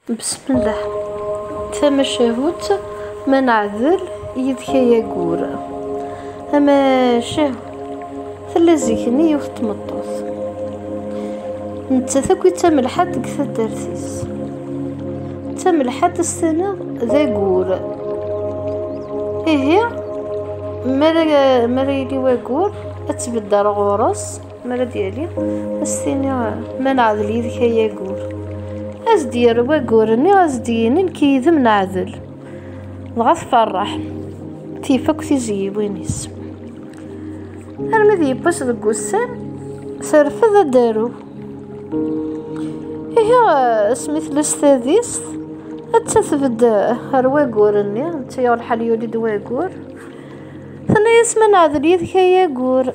Besmillah. Tamacahut ma neɛdel yid-k ay ayyur. Tamacahut tella zik-nni yiwet tmeṭṭut. Nettat akk d tamelḥant deg taddart-is. D tamelḥant ad s-tiniḍ d ayyur. Ihi mi ara yili wayyur ad tbedder ɣur-s. mara d-yali ad s-tini ma neɛdel yid-k ay agur ad s-d-yerr wagur-nni ad s-d-yini nekk yid-m neɛdel dɣa tferreḥ tif akk tizyiwin-is armi d yewwas deg wussan terfed ad d-aru ihi asmi tella s tadist atta tbedd ar wagur-nni atta yuɣ lḥal yuli-d wagur tenna-yas ma neɛdel yid-k ay agur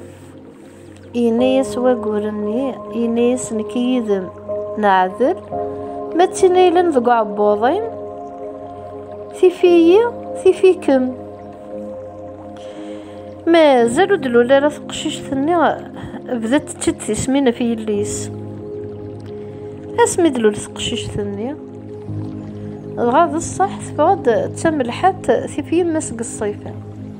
Yenna-yas wagur-nni, yenna-yas nekk yid-m neɛdel, ma d tin ay deg uɛebbuḍ-im, tif-iyi, tif-ikem. Mazal ur d-lul ara teqcict-nni, bda tečča-d tismin ɣef yelli-s. Asmi d-lul teqcict-nni, dɣa d ṣṣeḥ teffeɣ-d d tamelḥant tif yemma-s deg ṣṣifa.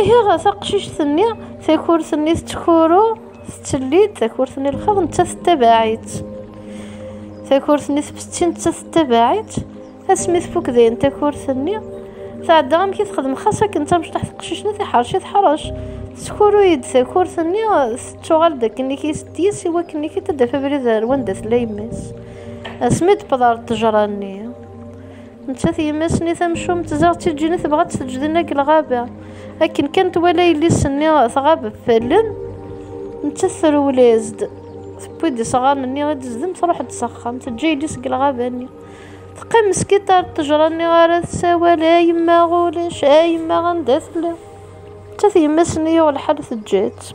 Ihi taqcict-nni takurt-nni tettkuru tettellid takurt-nni lxaḍ netta tettabaɛ-itt takurt-nni tfessi netta tettabaɛ-itt asmi tfuk dayen takurt-nni tɛedda amek i texdem xas akken tamecṭaḥ teqcict-nni tiḥerc i teḥrec teskuru-yi-d takurt-nni tettuɣal-d akken i k-is i wakken i k-id-taf abrid ar wanda tella yemma-s asmi d-pḍar ṭṭejra-nni Nettat yemma-s-nni tamcumt ziɣ d tiǧǧini tebɣa ad tt-teǧdina deg lɣaba. Akken kan twala yelli-s-nni tɣab ɣef allen, nettat trewlez-d. Tewwi-d isɣaren-nni i d-tezdim truḥ-d s axxam, teǧǧa yelli-s deg lɣaba-nni. Teqqim meskiṭ ar ṭṭejra-nni ara tessawal, a yemma ulac, a yemma anda tella. Nettat yemma-s-nni yuɣ lḥal teǧǧa-tt.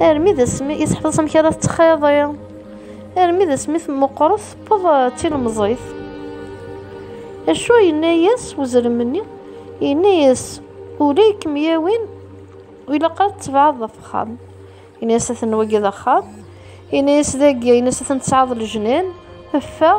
Armi d asmi i teḥfeḍ amek ara tettxiḍi. Armi d asmi temmuqret tewweḍ d tilemẓit. Acu yenna-yas uzrem-nni? Yenna-yas ula i kem-yawin ilaq ad tebɛeḍ ɣef axxam. Yenna-yas ad ten-wagi d axxam. Yenna-yas dagi, yenna-yas ad ten-tesɛeḍ lejnan. Ffeɣ,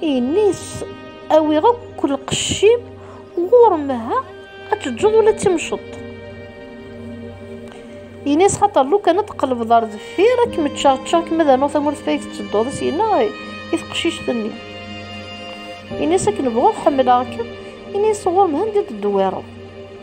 Inis awiɣ akk lqecc-im ɣur-m ha ad teǧǧeḍ ula d timceḍt. Inis xaṭer lukan ad tqelbeḍ ar deffir ad kem-ččeɣ ččeɣ kem ad rnuɣ tamurt fayeg tettedduḍ i s-yenna i teqcict-nni. Inis akken bɣuɣ ḥemmleɣ-kem, inis ɣur-m ha anda d-tedwireḍ.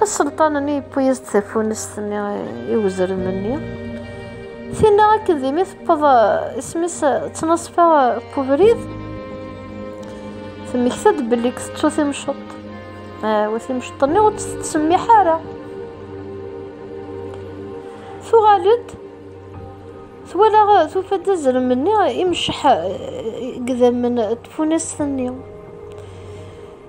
Aselṭan-nni yewwi-as-d tafunest-nni i wezrem-nni. Tinna akken d imi tewweḍ isem-is ttnaṣfa n ubrid, temmekta-d belli tettu timceḍt. Wa timceḍt-nni ur tt-tettsemmiḥ ara. Tuɣal-d twala tufa-d azrem-nni imecceḥ eh, gedammen tfunast-nni.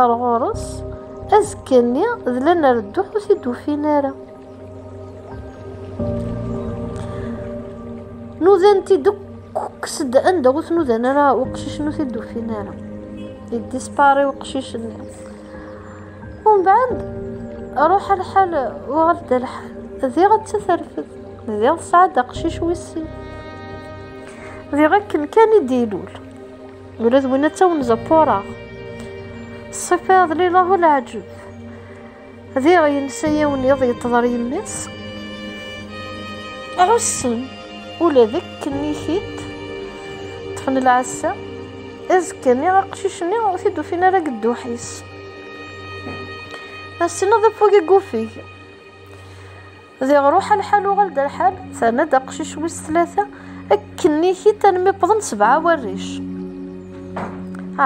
Ar ɣur-s, azekka-nni d lanar dduḥ ur t-id-ufin ara. Nudan-t-id kkes-d anda ur t-nudan ara uqcic-nni ur t-id-ufin ara. Yeddispari uqcic-nni. Umbeɛd, ruḥ lḥal, uɣal-d lḥal. Diɣ atta terfed, diɣ tesɛa-d aqcic wis sin. Diɣ akken kan i d-ilul. ula d win atta wen-zappureɣ ṣṣifa d lilahu leɛǧeb diɣ yensa yiwen iḍ yeṭḍer yemma-s ɛussen ula d akken ikit ṭṭfen lɛassa azekka-nni aqcic-nni ur t-id-ufin ara deg dduḥ-is ass-nni d afug i yufeg Diɣ ruḥ alḥal uɣal-d alḥal, terna-d aqcic wis tlata, akkennikit almi wwḍen sebɛa warric.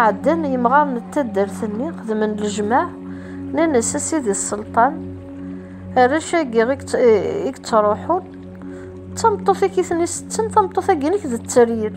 Ɛeddan yimɣaren n taddart-nni, xedmen lejmaɛ, nnan-as a sidi sselṭan, arrac-agi i yettruḥun, d tameṭṭut-ik i ten-isetten, tameṭṭut-agi-inek d tteryel.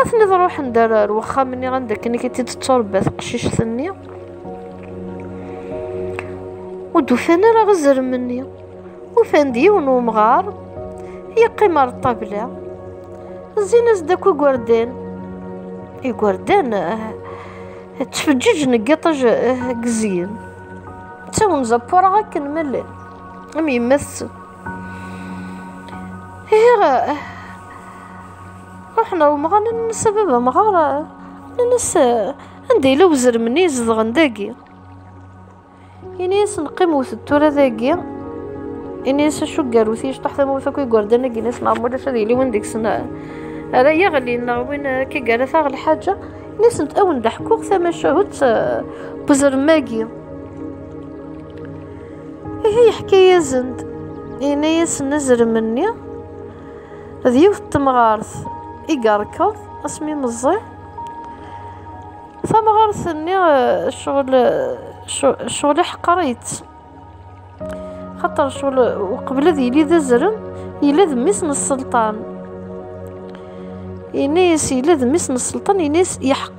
Aten-id ruḥen d ar wexxam-nni anda akken i t-id-tetturebba teqcict-nni. Ur d-ufan ara azrem-nni. Ufan-d yiwen umɣar yeqqim ar ṭṭabla. Zzin-as-d akk igerdan. Igerdan ttfeǧǧiǧen deg iṭij gezyen. D tawenza ppureɣ akken ma llan am yemma-tsen. Ihi ruḥna umɣar nnes a baba mɣar nnes anda yella wezrem-nni zedɣen dagi ini-yasen qim wtet tura dagi ini-yas acu garut yecṭaḥ tamurt akk igerdan agi nas neɣ mulac ad yili win deg-sen ara yaɣli neɣ win akka gara taɣ lḥaǧa ini-asent awen d-ḥkuɣ tamacahut wezrem-agi Ihi yeḥka-yasen-d, yenna-yasen azrem-nni d yiwet n temɣart i yerkeḍ asmi meẓẓi. Tamɣart-nni ccɣel ccɣel iḥqer-itt. Xaṭer ccɣel uqbel ad yili d azrem yella d mmi-s n sselṭan. Yenna-yas yella d mmi-s n sselṭan yenna-yas yeḥqer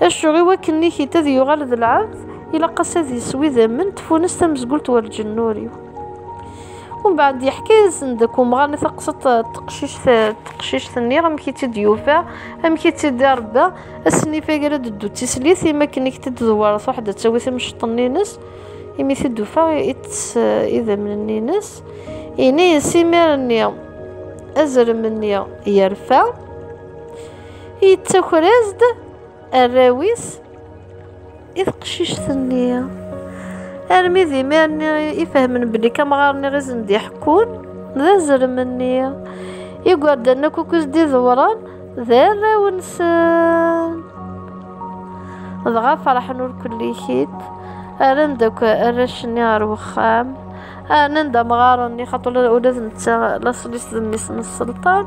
Acu i wakken Nikita ad yuɣal d lɛebd, ilaq-as ad yeswi idammen n tfunest tamezgult war lǧenn-ur-iw. Umbeɛd yeḥka-yasen-d deg umɣar-nni taqsiṭ teqcict-nni, amek i tt-id-yufa, amek i tt-id-irebba, ass-nni ifag ara d-teddu d tislit, imi akken i k-t-id-tdewwer truḥ ad d-tawi timceṭ-nni-ines, imi t-id-tufa itess idammen-nni-ines, yenna-yas imir-nni azrem-nni yerfa. yettaker-as-d arraw-is i teqcict-nni armi d imir-nni i fehmen belli kamɣar-nni izen d iḥekkun d azrem-nni igerdan akk akkuz d idewren d arraw-nsen dɣa ferḥen ur kullikit rran-d akk arrac-nni ɣer wexxam rnan-d amɣar-nni xaṭu ula d netta laṣel-is d mmi-s n sselṭan